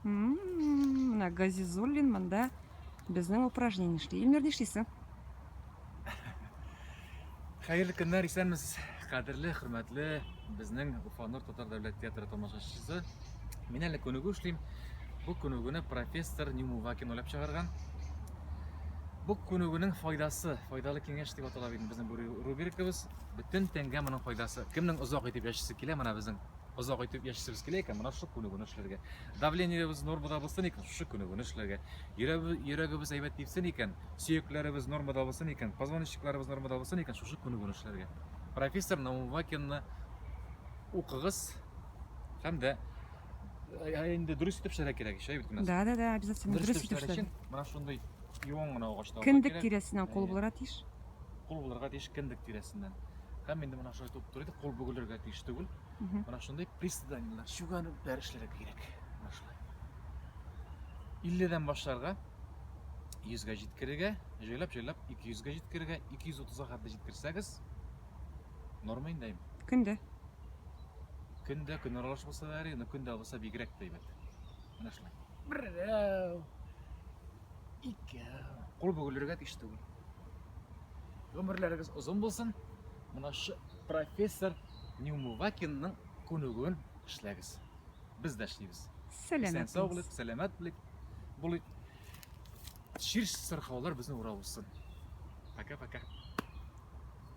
Менә Газизуллин монда безнең упражнение эшли. Илмир нишлисең? Хәерле көннәр, исәнмесез. Кадерле, хөрмәтле безнең Уфанур татар дәүләт театры тамашачысы. Мин әле күнегү эшлим. Бу күнегүне профессор Нюмувакин уйлап чыгарган. Бу күнегүнең файдасы, файдалы киңәш дип атала бит безнең бу рубрикабыз. Бөтен тәнгә моның файдасы. Кемнең озак итеп яшисе килә, менә безнең озак итеп яшисебез килә икән, менә шушы күнегүне эшләргә. Давлениебез нормада булсын икән, шушы күнегүне эшләргә. Йөрәгебез әйбәт тибсен икән, сөякләребез нормада булсын икән, позвоночникларыбыз нормада булсын икән, шушы күнегүне эшләргә. Профессор Наумвакинны укыгыз һәм дә Ә инде дөрес итеп эшләргә кирәк ич, әйбит кенә. Да, да, да, обязательно дөрес итеп эшләргә өчен эшләргә. менә шундый юан гына агачта алырга Кендек кирәк. тирәсеннән кул Әйе. булырга тиеш. Кул булырга тиеш кендек тирәсеннән. Һәм инде менә шулай топ торыйды, кул бөгелергә тиеш түгел. Мгм. Менә шундый приседаниелар, чүгәнүкләр эшләргә кирәк. Менә шулай. 50 дән башларга 100 гә җиткерергә, җайлап-җайлап 200 гә җиткерергә, 230 га хәтле җиткерсәгез, Норма инде әйм. Көндә. Көндә, көн аралаш булса да әри, но көндә булса бигрәк тә әйбәт. Менә шулай. Берәү. Икәү. Кул бөгелергә тиеш түгел. Гомерләрегез озын булсын. Менә шу профессор Нюмувакинның күнегүен эшләгез. Без дә эшлибез. Сәламәт. Сау булыйк, сәламәт булыйк. Булыйк. Ширш сырхаулар безне урап узсын. Пока-пока.